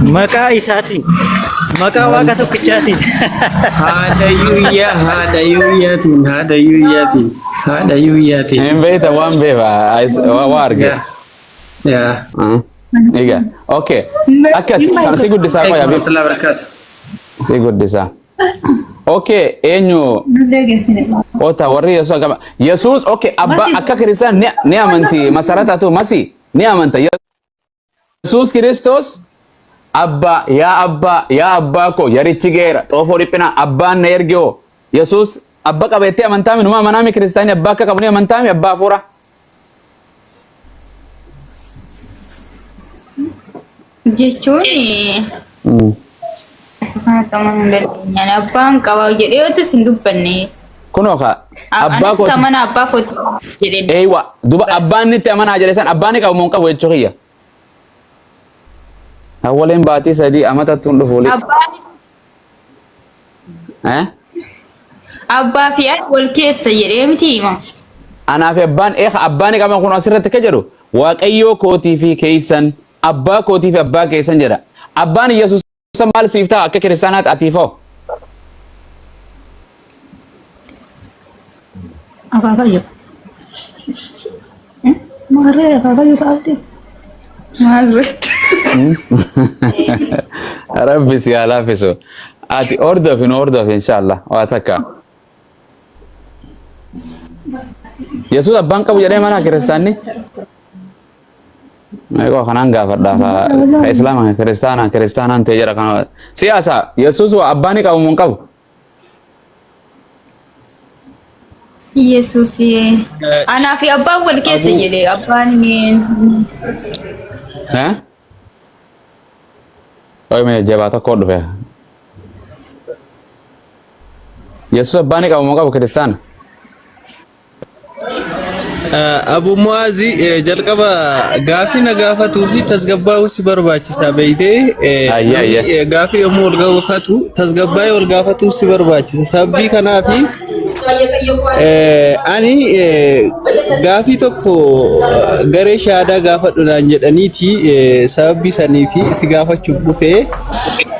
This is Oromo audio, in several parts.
Maqaa isaatiin. Maqaa waaqa tokkichaatiin. Haadha yuuyyaa haadha yuuyyaatiin haadha yuuyyaatiin haadha yuuyyaatiin. Hin beekta waan beeba waa arge. Yaa. Egaa. Okay. Akkas kan si guddisaa qoya. Warahmatullahi wabarakatuh. Si guddisaa. Okay. Eenyu ota warri Yesuus akkama. Yesuus okay abba akka kiristaan ni amanti masarataatu masi ni amanta. Yesuus Kiristoos abbaa yaa abbaa yaa abbaa koo yarichi geera xoofoo dhiphinaa abbaan na erge hoo Yesuus abba qaba jettee amantaa minuma amanaa mi kiristaanii abbaa akka qabu ni amantaa mi abbaa hafuuraa. jechuun Haa qaban hin dandeenyaan. Abbaan qabaa jedhee yoo ta'es hin dubbanne. Kunoo kaa Ab- abbaa Anis kooti. amana abbaa kooti jedhee. Eeywa duba abbaan nitti amanaa jedhe san abbaan ni qabu moo hin qabu jechuu kiyya. Awwaleen baatii sadii amatatti hin dhufu. Abbaan Eh? abbaa fi ani wal keessa jedhee miti hima. Anaa fi abbaan eeka abbaan ni qaban kun asirratti akka jedhu waaqayyoo kootii fi keessan abbaa kootii fi abbaa keessan jedha. Abbaan Yesuus Isa maal siif ta'a akka kiristaanaatti atiif hoo? Akaakayyoo. Maarree akaakayyoo ta'aatti. Maal irratti? Rabbi si haa laaffisu. Ati hordofi nu hordofi inshaallah waa takka. Yesuus abbaan qabu jedhee mana kiristaanni? Meeqoo kanaan gaafadha ka ka islaama ka kiristaana kiristaanaan ta'e jedha kana siyaasa yesuus waa abbaa ni qabu moo hin qabu Yesuus anaa fi abbaan wal keessa Abuu. jedhe abbaan Eh? Oi me jabaa tokko dhufe yesuus abbaa ni qabu moo hin qabu kiristaana Abu Mu'aazi jalqaba gaafii na gaafatuu fi tasgabbaa'uu si barbaachisaa beeytee Ayya, ayya. namni, eh, gaafii yommuu ol gaafatu tasgabbaa'ee ol gaafatuu si barbaachisa sababii kanaaf eh, ani eh, gaafii tokko eh, garee shahaadaa gaafadhu naan jedhaniiti eh, sababii saniif si gaafachuuf dhufee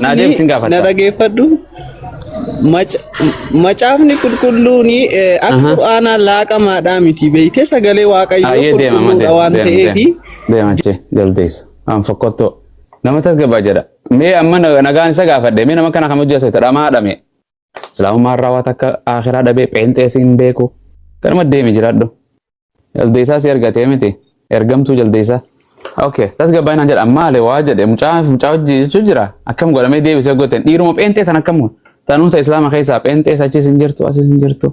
Naa deebisin gaafadha. Na dhageeffadhu. Macaafni qulqulluun akka qur'aanaa laaqamaadhaa miti beektee sagalee waaqayyoo qulqulluudha waan ta'eef. Deemachee jaldeessa. An fokkottoo. Nama tasgabaa jedha. Mee amma nagaan isa gaafadhe. Mee nama kana kam hojjaa seeta dhamaa dhame. Islaamummaa irraa waa takka aakhiraa dhabee pheenxees hin beeku. Kanuma deemi jiraadhu. Jaldeessaa si argatee miti. Ergamtuu jaldeessaa. Okay, tasgabbaa'ii naan jedha. Maali waa jedhe mucaa mucaa hojii jechuu jira. Akkam godhamee deebisee goteen dhiiruma pheenxee tan akkam tanuuta islaama keessaa pheenxees achiis hin jirtu asiis hin jirtu.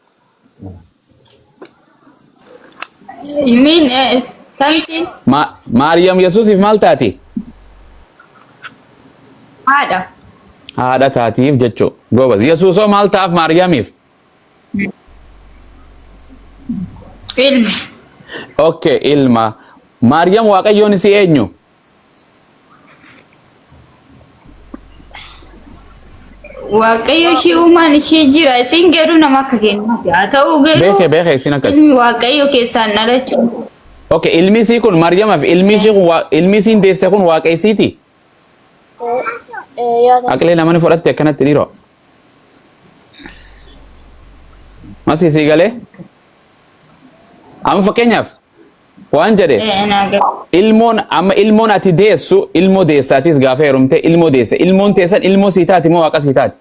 You mean uh, something? Ma- Maariyaam Yesuusiif maal taati? Haadha. Haadha taatiif jechuu. Goobas. Yesuusoo maal ta'aaf Maariyaamiif? Ilma. Okay, ilma. Maariyaam Waaqayyoon isii eenyu? Waaqayyo ishee uumaan ishee jira. Isin garuu nama akka kennaati. Haa ta'u garuu Beeke beeke isin akka. ilmi Waaqayyo keessaan dhalachuun Okay, ilmi isii kun Maryamaaf ilmi ishii kun waa- ilmi isiin deesse kun waaqa isiiti. Eh, ya kan. Aqilee namani fudhatte akkanatti dhiiroo. Masii sii galee? Amma fakkeenyaaf Waan jedhe Ee naa gale. ilmoon amma ilmoon ati deessu ilmoo deessaatis gaafa heerumte ilmoo deesse ilmoon teessan ilmoo sii taati moo waaqa sii taati.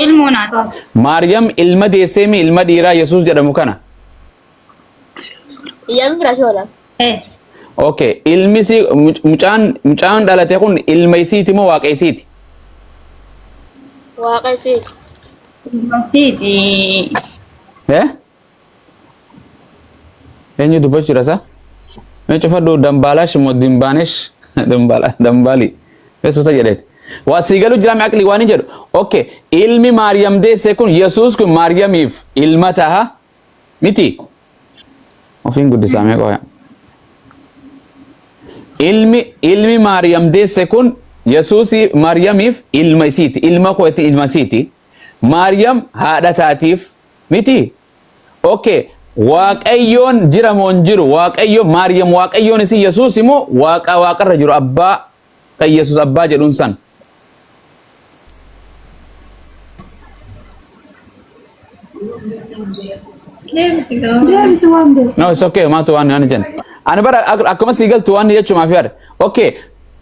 Ilmoo naa ta'a. Maariyam ilma deesseemi ilma dhiiraa Yesuus jedhamu kana. Iyyaafii firaashii oola. Yes. Okay. Ilmi isii muc- mucaan mucaan dhalate kun ilma isiiti moo waaqa isiiti? Waaqa isiiti. Ilmasiiti. Eh? Eenyu dubbachuu jira isaa? Mee cufadhu dambaalash moo dimbaanesh dambaala dambaali. Mee suuta jedheeti. Waa sii galu jiraame aqli waan hin jedhu. Okay. Ilmi Maariyam deesse kun Yesuus kun Maariyamiif ilma taha. Miti. Ofiin guddisaa mee qoya. Ilmi ilmi Maariyam deesse kun Yesuusii Maariyamiif ilma isiiti. Ilma koo itti ilma isiiti. Maariyam haadha taatiif miti. Okay. Waaqayyoon jira moo hin jiru? Waaqayyo Maariyam Waaqayyoon isii Yesuus immoo waaqa waaqarra jiru abbaa ta Iyyasuus Abbaa jedhuun san. Deebisi waan beeku. No, it's okay. Maatu waan ani jenna. Ani bara ak- akkuma sii galtu waan jechuumaa fi yaada. Okay.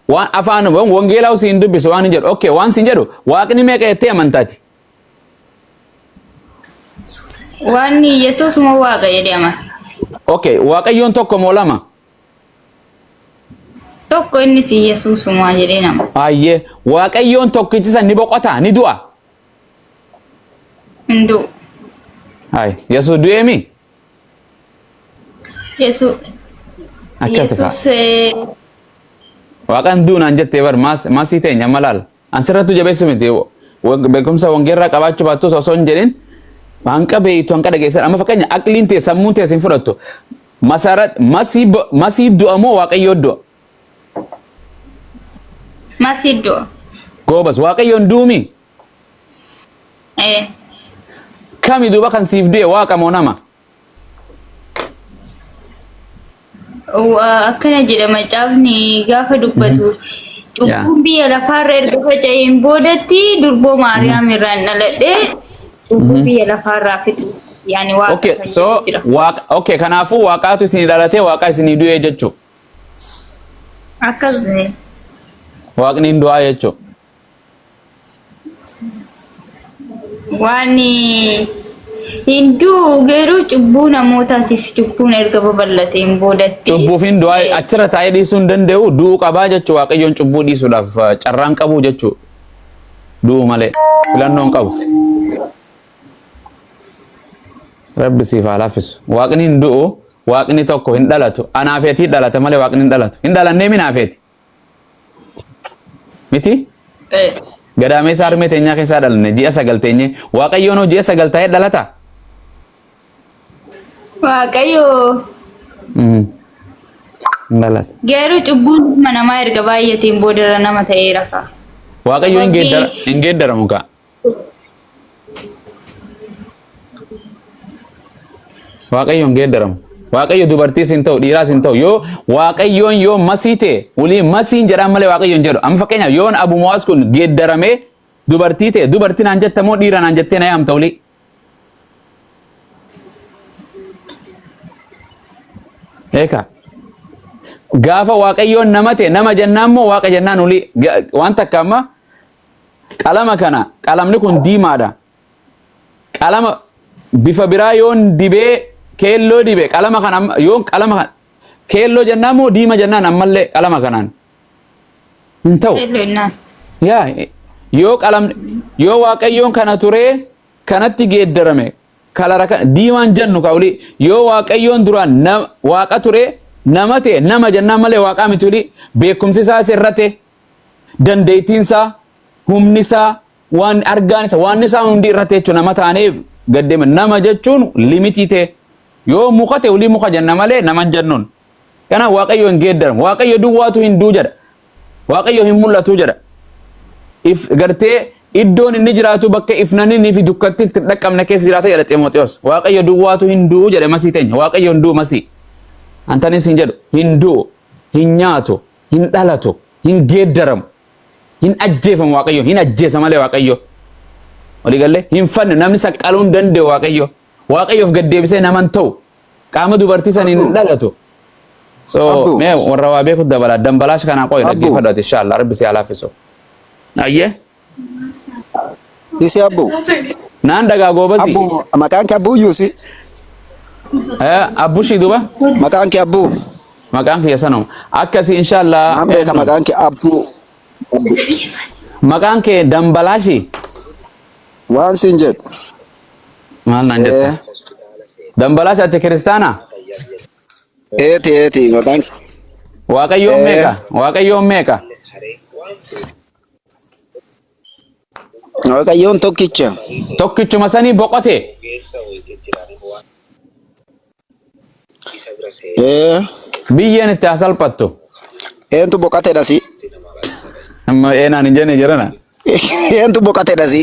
Waan afaan waan wangeelaa usii hin dubbisu waan hin jedhu. Okay. Waan siin jedhu waaqni meeqa jettee amantaati. Wanni Yesuus moo waaqa jedhee amana. Okay. Waaqayyoon tokko moo lama? Tokko innis Yesuusumaa jedhee nama. Ayyee waaqayyoon tokkichi san ni boqotaa ni du'a. Hin du'u. Ay Yesuus du'ee mi? Yesu- Akkasi kaa. Yesuus eh, Waaqan duunaan jettee bar maas- maasii teenya amma laala. An sirrattuu jabeessu miti beekumsa wangeerraa qabaachuu baattus osoo hin jedhin hanqa beeytu hanqa dhageessan amma fakkeenya aqliin tee sammuun tee sin fudhattu masara masii bo- masii du'a moo waaqayyoo du'a Masii du'a. goobas waaqayyoon duumi Ee. kami duuba kan siif du'e waaqa moo nama Akkana jedha macaafni gaafa dubbatu cubbuun biyya lafaarra erga faca'een boodatti durboo Maariyaam irraan dhaladhee cubbuu biyya lafaarraa fixu yaani waaqa Okay, kan so jedhu jira. waaqa okay kanaafuu waaqaatu isinii dhalatee waaqaa isinii du'ee jechuu. Akkas Waaqni hin du'aa jechuu. Waan hin du'u garuu cubbuu namootaatiif cubbuun erga babal'ateen boodatti. Cubbuufiin du'aa eh, achirra taa'ee dhiisuu hin danda'u du'uu qabaa jechuu waaqayyoon cubbuu dhiisuudhaaf eh, carraan qabu jechuu du'uu malee filannoon qabu. Rabbi siif haa laaffisu. Waaqni hin du'u waaqni tokko hin dhalatu anaafeetii dhalata malee waaqni hin dhalatu hin dhalannee minaafeeti. Miti? Ee. Gadaameessa harmee teenyaa keessaa dhalne ji'a sagal teenye. Waaqayyoon hoo ji'a sagal taa'ee dhalata? Waaqayyo Mm. Hin dhalatu. garuu cubbuun ilma namaa erga baay'ateen boodarra nama ta'eera kaa. Waaqayyo hin Sababii- geeddara- hin geeddaramu kaa. Waaqayyoon geeddaramu. Waaqayyo dubartiis hin ta'u, dhiiraas hin ta'u. Yoo Waaqayyoon yoo masii ta'e, walii masiin jedhaan malee Waaqayyoon jedhu. Amma fakkeenyaaf yoon Abu Muwaas kun geeddaramee dubartii ta'e, dubartii naan jetta moo dhiira naan jettee na yaamta walii? Eekaa. Gaafa Waaqayyoon nama ta'e, nama jennaan moo Waaqa jennaan walii? Ga- Waan takka amma Qalama kana qalamni kun diimaadha. Qalama bifa biraa yoon dibee keelloo dibe qalama kana amma- yoon qalama kana keelloo jennaan moo diima jennaan ammallee qalama kanaan hin ta'u. Keelloo innaan. Yaa yoo qalam yoo waaqayyoon kana turee kanatti geeddarame kalara kana diimaan jennu kauli yoo waaqayyoon duraan na- waaqa turee nama ta'e nama jennaan malee waaqaa miti oli beekumsi isaas irrate dandeettiin isaa humni isaa waan argaan isa waan isaa hundi irratti jechuun nama taaneef gaddema nama jechuun limitii ta'e yoo muka ta'e olii muka jenna malee nama hin jennuun kana waaqayyo hin geeddaran waaqayyo duwwaatu hin duu jedha waaqayyo hin mul'atu jedha if gartee iddoon inni jiraatu bakka ifnanni fi dukkatti itti hin dhaqqabne keessa jiraata jedha Ximooxiyoos waaqayyo duwwaatu hin duu jedhe masii teenya waaqayyo hin duu masii antanis hin jedhu hin duu hin nyaatu Hin dhalatu, hin geeddaramu, hin ajjeefamu Waaqayyo, hin ajjeesa malee Waaqayyo. Walii gallee? Hin fannu, namni saqqaluu hin danda'u Waaqayyo. Waaqayyoof gad deebisee nama hin ta'u. Qaama dubartii saniin hin Abbu, dhalatu. So, abbu, mee warra waa beeku dabala. Dambalaash kanaa qoyi abbu. dhaggeeffadhu ati inshaallah. Rabbi si haa laaffisu. Ayyee. Isi abbu. Naan dhagaa goobazii. Abbu maqaan kee abbuu yuusi. Eh, Abbushii duba. Maqaan kee abbuu. Maqaan kiyya sanuma. Akkasii inshaallah. Naan beeka eenyu? maqaan kee abbuu. Maqaan kee Dambalaashii. Waan siin jedhu. Maal naan jetta? Eh, Dambalaash ati kiristaana? Eeti eeti maqaan kee. Waaqayyoon Eh. meeqa? Waaqayyoon meeqa? Waaqayyoon tokkicha. Tokkichuma sanii boqote. Ee, Biyyeen itti haa salphattu. Eentu boqatedha si? Amma eenaan hin jenne jedhana. Eentu boqatedha si?